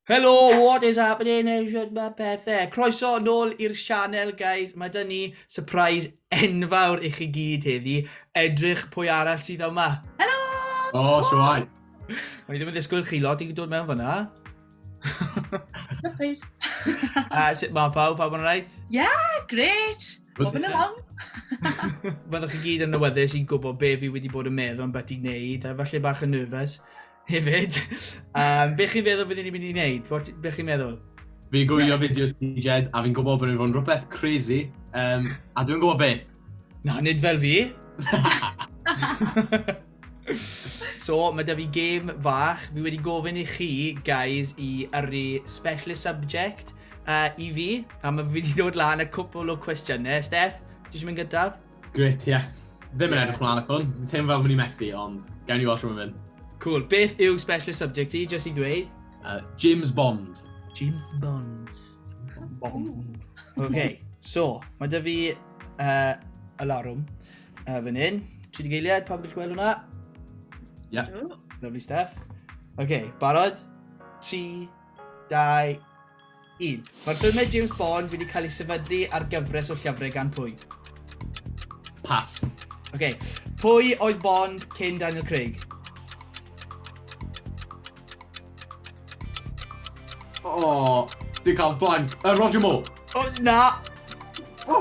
Helo, what is happening? Eisiau mae pethau. Croeso yn ôl i'r sianel, guys. Mae dyn ni surprise enfawr i chi gyd heddi. Edrych pwy arall sydd yma. Helo! O, oh, siwai. O'n i ddim yn ddisgwyl chi lot i dod mewn fyna. Surprise. A sut mae pawb? Pawb yn rhaid? Yeah, great. Bob yn along. Fyddwch chi gyd yn newyddus i gwybod be fi wedi bod yn meddwl am beth i wneud. Falle bach yn nervous. Hefyd, um, be chi'n feddwl byddwn ni'n mynd i wneud? What, be chi'n meddwl? Fi'n gwylio fideos ti, Jed, a fi'n gwybod bod ni'n fod yn rhywbeth crazy, um, a dwi'n gwybod beth. Na, nid fel fi. so, mae da fi gêm fach. Fi wedi gofyn i chi, guys, i yrru specialist subject uh, i fi. A mae fi wedi dod lan y cwpl o cwestiynau. Steph, ti eisiau mynd gyntaf? Gret, ie. Yeah. Ddim yn edrych mlaen at hwn. Dwi'n teimlo fel mynd i methu, ond gawn ni watch rhywun mynd. Cool. Beth yw specialist subject i, jyst i ddweud? Uh, James Bond. James Bond. Bond. OK, so, mae dy fi uh, alarwm uh, fan hyn. Tri di geiliad, pawb wedi gweld hwnna? Ie. Yeah. Lovely stuff. OK, barod? 3, 2, Un. Mae'r ffilmiau James Bond wedi cael eu sefydlu ar gyfres o llyfrau gan pwy? Pass. Ok. Pwy oedd Bond cyn Daniel Craig? O, dwi'n cael blank. Uh, Roger Moore. O, na! O!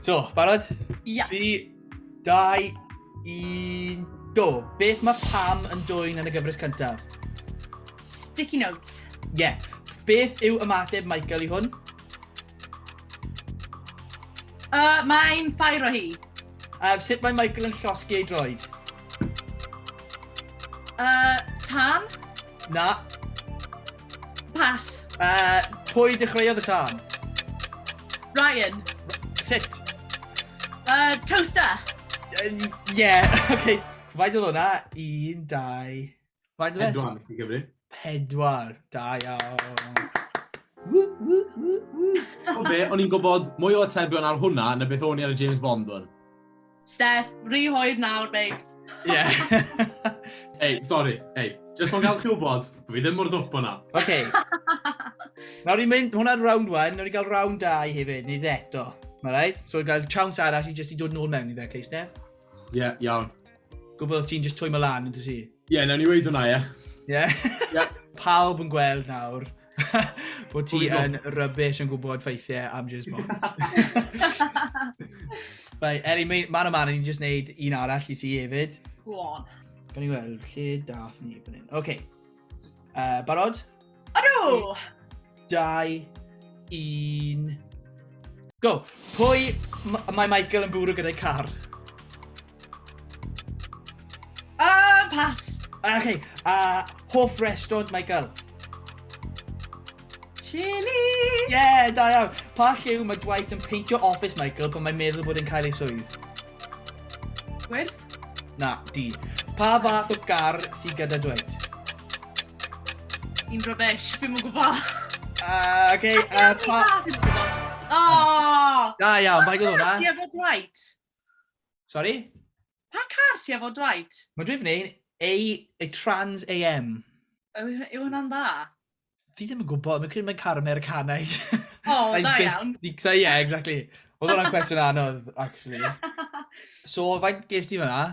So, barod? Ia. 3, 2, 1, go! Beth mae Pam yn dwy'n yn y gyfres cyntaf? Sticky notes. Ie. Yeah. Beth yw ymateb Michael i hwn? Uh, mae'n ffair o hi. A uh, sut mae Michael yn llosgi ei droed? Uh, tan? Na. Pas. Uh, pwy dechreuodd y tân? Ryan. Sut? Uh, toaster. Ie, uh, yeah. oce. Okay. So, faint oedd hwnna? Un, dau... Faint oedd e? Pedwar, nes i gyfri. Pedwar. Da iawn. O be, o'n i'n gwybod mwy o atebion ar hwnna na beth o'n i ar y James Bond hwn. Steph, rhy hoed nawr, babes. Ie. Ei, sori, ei. Just o'n gael chi wybod, bod fi ddim mor ddwp o'na. Oce. Nawr ni'n mynd, hwnna'n round 1, nawr ni'n cael round 2 hefyd, nid eto. Mae rhaid? So, gael chance arall i jyst i dod nôl mewn i fe, okay, Steph? Ie, yeah, iawn. Gwybod ti'n jyst twy mlaen, yn dwi si? Ie, yeah, nawr ni weid hwnna, ie. Ie? Ie. Pawb yn gweld nawr, bod ti yn rybys yn gwybod ffeithiau am James Bond. Bai, Eli, man o man, ni'n just neud un arall i ti hefyd. Go on. Gan i weld, lle dath ni fan hyn. Oce. Uh, barod? Ydw! Dau, un... Go! Pwy mae Michael yn bwrw gyda'i car? Ah, pass! Ah, okay. Uh, hoff restaurant, Michael? Chili! Yeah, da iawn. Pa lliw mae Dwight yn peintio office, Michael, pan mae'n meddwl bod yn cael ei swydd? Gwyrdd? Na, di. Pa fath o gar sy'n gyda Dwight? I'n rubbish, fi'n mwyn gwybod. Uh, okay, uh, pa... Oh! Da iawn, faint o hwnna? Ie, bod Dwight. Sorry? Pa car sy'n efo Dwight? Mae dwi fy A, a Trans AM. Yw, yw hwnna'n dda? Fi ddim yn gwybod, mae'n credu mae'n car Americanaidd. O, oh, da iawn. Ie, yeah, exactly. Oedd hwnna'n cwestiwn anodd, actually. so, faint ges ti fyna?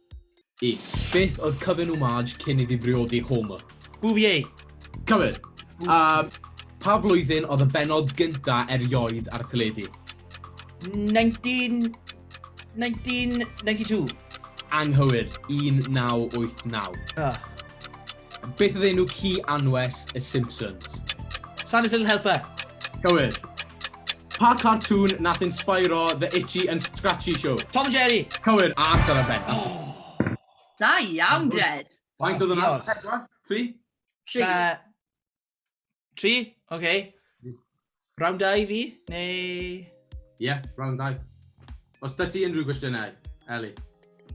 I. Beth oedd cyfun Umaj cyn iddi briodi Homer? Bouvier! Cywir! A pha flwyddyn oedd y bennod gynta erioed ar y teledu? 19... 1992. Anghywir, 1989. Ugh. Beth oedd enw ci anwes y Simpsons? Santa's Little Helper! Cywir. Pa cartŵn nath inspairo The Itchy and Scratchy Show? Tom and Jerry! Cywir, a amser ar ben. Oh! Da iawn, Jed! Faint oedd hwnna? Pedwar? Tri? Tri. Be- Tri? Oce. Okay. Mm. Round 2 i fi, neu... Ie, yeah, round 2. Os da ti unrhyw gwestiynau, Eli?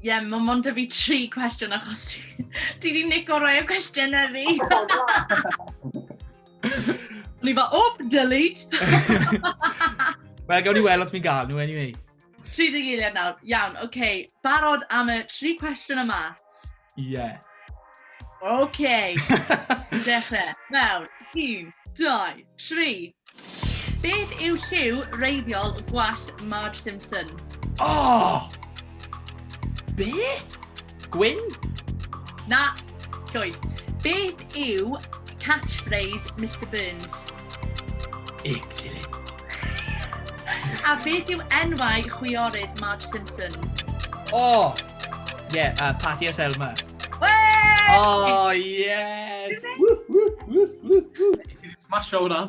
Ie, yeah, mae mond y fi tri cwestiwn achos ti wedi nico rai o cwestiynau fi. O'n i fel, oh, delete! Wel, gawn ni weld os mi'n gael nhw, anyway. 30 eiliad nawr. Iawn, oce. Okay. Barod am y tri cwestiwn yma. Ie. Yeah. OK. Dechrau. Mewn. Un, dau, tri. Beth yw lliw reiddiol gwallt Marge Simpson? Oh! Be? Gwyn? Na. Llwyd. Beth yw catchphrase Mr Burns? Excellent. A beth yw enwau chwiorydd Marge Simpson? O! Ie, yeah, uh, Patty a Selma. Wee! Oh, yes! Smasho hwnna.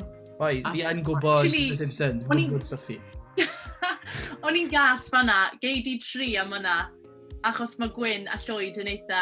Oi, fi yn gwybod Actually, The Simpsons, fi'n gwybod Sophie. O'n i'n gas fanna, gei di tri am hwnna, achos mae Gwyn a Llwyd yn eitha